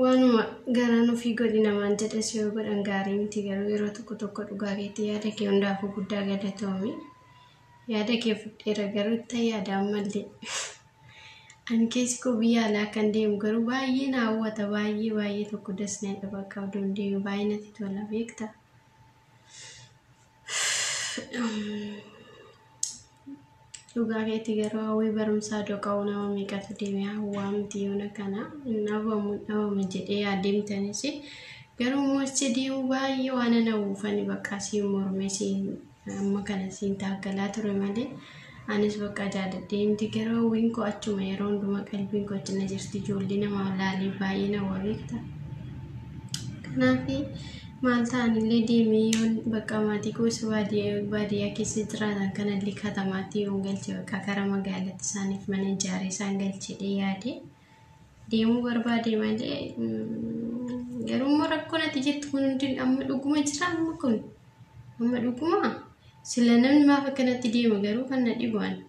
waanuma garaan ofii godhi namaan jedhes yoo godhan gaarii miti garuu yeroo tokko tokko dhugaa keetti yaada kee hundaafuu guddaa galatoomi yaada kee fudheera garuu itti yaadaan malee ani keessi koo biyya alaa kan deemu garuu baay'ee na hawwata baay'ee baay'ee tokko das na jedha bakka abdoon deemu baay'ee natti tola beekta dhugaa keetti garuu hawwii barumsaa doqa'uu nama meeqatu deeme hawwaa miti yoona kana hin dhabamu hin dhabamu jedhee adeemtanis garuu immoo achi deemu baay'ee waan ana hawwuufani bakka siin mormee siin amma kana siin taaggalaa ture malee Anis bakka jaadadhee miti garuu hawwiin koo achuma yeroo hundumaa qalbiin koo achi na jirti ijoollee nama laalee baay'ee na wabeekta. Kanaaf maal ta'anillee deemee yoon bakka maatii koo isa baadiyyaa baadiyyaa keessa jiraatan kanallee katamaatti yoon galche bakka gara magaalatti isaaniif mana ijaaree isaan galchedhee yaade. deemuu barbaade malee garuu immoo rakkoon ati jettu kun hundi amma dhuguma jira amma kun amma dhuguma sila namni maaf akkanatti deema garuu kan na dhibu ani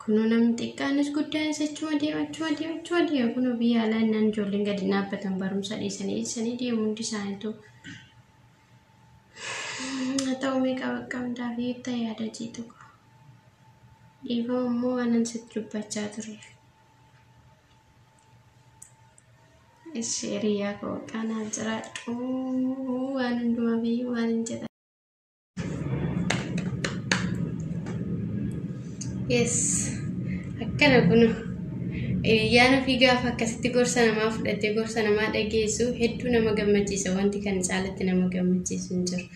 kunoo namni xiqqaanis guddaanis achuma deema achuma deema achuma deema kunoo biyya alaa innaan ijoolleen gadi dhaabbatan barumsa dhiisanii dhiisanii deemu hundi isaaniitu haa ta'u meeqa bakka hundaa fi ta'e yaada jiitu dhiifama immoo waanan sitti dubbachaa tureef. Ishi hiriyaa koo kanaa jiraadhu waan hundumaa fi waan hin jedha. Yes akkana kun yaana fi gaafa akkasitti gorsa namaa fudhattee gorsa namaa dhageessu hedduu nama gammachiisa wanti kan caalatti nama gammachiisu hin jiru.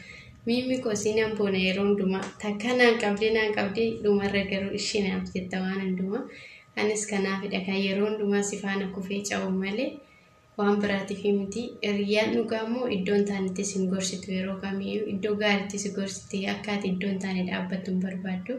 Miimmi koo si nan boona yeroo hundumaa takka naan qabdee naan qabdee dhumarra garuu ishee naaf jetta waan hundumaa. Anis kanaafidha kan yeroo hundumaa si faana kufee ca'u malee waan biraatiif miti. Hiriyyaan dhugaa immoo iddoo hin taanetti sin gorsitu yeroo kamiyyuu iddoo gaariitti si gorsiti akka ati iddoo hin taane dhaabbattu hin barbaaddu.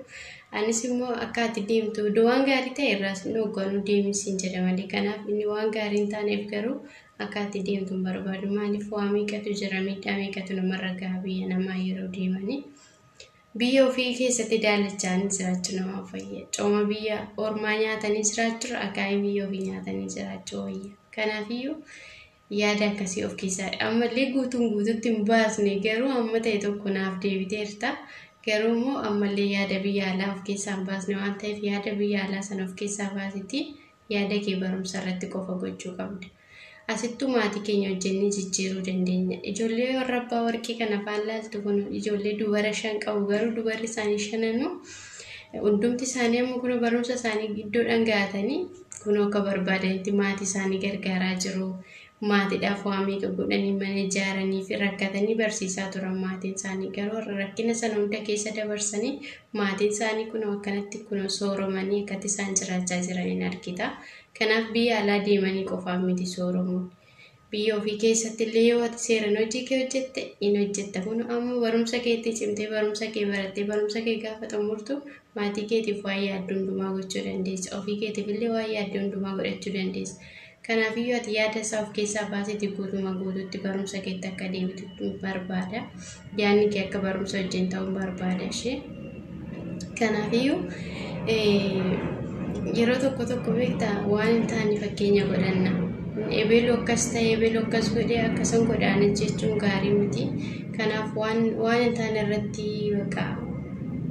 Anis immoo akka ati deemtu iddoo waan gaarii ta'e irraa sin dhoogganu deemi sin jedha malee kanaaf inni waan gaarii hin taaneef garuu akka ati deemtu hin barbaadu maaliif waa meeqatu jira miidhaa meeqatu namarra gaha biyya namaa yeroo deemanii. Biyya ofii keessatti daalachaanii jiraachuu nama fayya. Cooma biyya ormaa nyaatanii jiraachuu akaayii biyya ofii nyaatanii jiraachuu wayya. Kanaafiyyuu yaada akkasii of keessaa ammallee guutuun guututti hin baasne garuu amma ta'e tokko naaf deebiteerta. Garuu immoo ammallee yaada biyya alaa of keessaa hin baasne waan ta'eef yaada biyya alaa sana of keessaa baasiti Yaada kee barumsa irratti qofa gochuu qabda. Asittuu maatii keenya hojjennee jijjiiruu dandeenya. Ijoollee warra abbaa warqii kana faan laaltu kun ijoollee dubara shan qabu garuu dubarri isaanii shananuu hundumti isaanii amma kunoo barumsa isaanii iddoodhaan gahatanii kunoo akka barbaadanitti maatii isaanii gargaaraa jiru. Maatiidhaaf waa meeqa godhanii mana ijaaraniifi rakkatanii barsiisaa turan maatiin isaanii garuu har'a rakkina sana hunda keessa dabarsanii maatiin isaanii kunoo akkanatti kunoo sooromanii akkatti isaan jiraachaa jiraniin argita. Kanaaf biyya alaa deemanii qofaaf miti sooromuun. Biyya ofii keessatti illee yoo ati seeran hojii kee hojjette in hojjetta kun ammoo barumsa keetti cimtee barumsa kee barattee barumsa kee gaafa xumurtu maatii keetiif waan yaaddu hundumaa gochuu dandeessa ofii keetiif illee waan yaaddu hundumaa godhachuu dandeessa. Kanaafiyyuu ati yaada isaa of keessaa baasiti guutumaa guutuutti barumsa keetti akka deebitu barbaada. Yaadni kee akka barumsa wajjin ta'uun barbaada ishee. Kanaafiyyuu yeroo tokko tokko beekta waan hin taane fakkeenya godhanna. Ebeelu akkas ta'e ebeelu akkas godhe akkasan godhaana jechuun gaarii miti. Kanaaf waan waan hin taane irratti baqa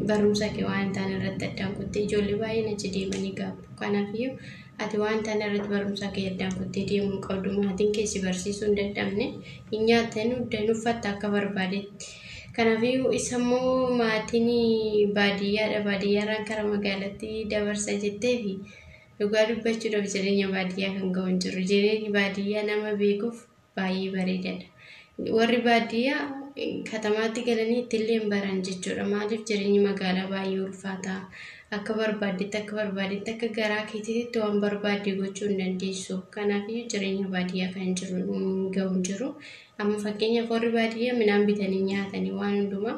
barumsa kee waan hin taane irratti addaan kuttee ijoollee baay'een achi deemanii gaabbu. Kanaafiyyuu Ati waan tana irratti barumsa kee addaan kuttee deemuu hin qabdu. Maatiin kee si barsiisuu hin dadhabne. Hin nyaatta, hin dhugda, hin uffatta akka barbaadetti. Kanaafiyyuu isa immoo maatiin baadiyyaadha. Baadiyyaarraan kara magaalatti dabarsa jetteefi dhugaa dubbachuudhaaf jireenya baadiyyaa kan ga'u hin jiru. Jireenyi baadiyyaa nama beekuuf baay'ee bareedadha. Warri baadiyyaa katamaatti galanii ittillee hin baran jechuudha. Maaliif jireenyi magaalaa baay'ee ulfaataa akka barbaaddetti akka barbaaddetti akka garaa keetiitti waan barbaadde gochuu hin dandeessu. Kanaafiyyuu jireenya baadiyyaa kan jiru hin ga'u hin jiru. Amma fakkeenyaaf warri baadiyyaa midhaan bitanii nyaatanii waan hundumaa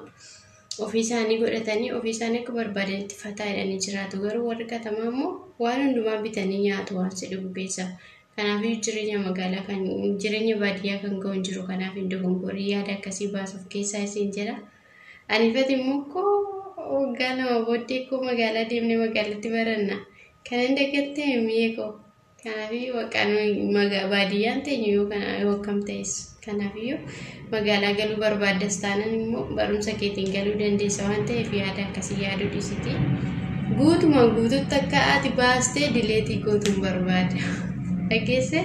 ofii isaanii godhatanii ofii isaanii akka barbaadanitti fataa jedhanii jiraatu. Garuu warri katamaa immoo waan hundumaa bitanii nyaatu waan si dhibu keessa. Kanaafiyyuu jireenya magaalaa kan jireenya baadiyyaa kan ga'u hin jiru kanaaf hin dogongorii yaada akkasii baasuuf keessaa isin jira. Ani fati immoo koo waggaa lama booddee koo magaalaa deemnee magaalatti baranna. Kan hin dagatte mi'ee koo. Kanaafiyyuu waqaan baadiyyaan teenyu yoo kana yoo akkam ta'essu. Kanaafiyyuu, magaalaa galuu barbaaddas taanan immoo barumsa keetiin galuu dandeessa waan ta'eef yaada akkasii yaaduu dhiisitii guutumaan guututti akka ati baastee dileetii gootuun barbaada. Dhageesse?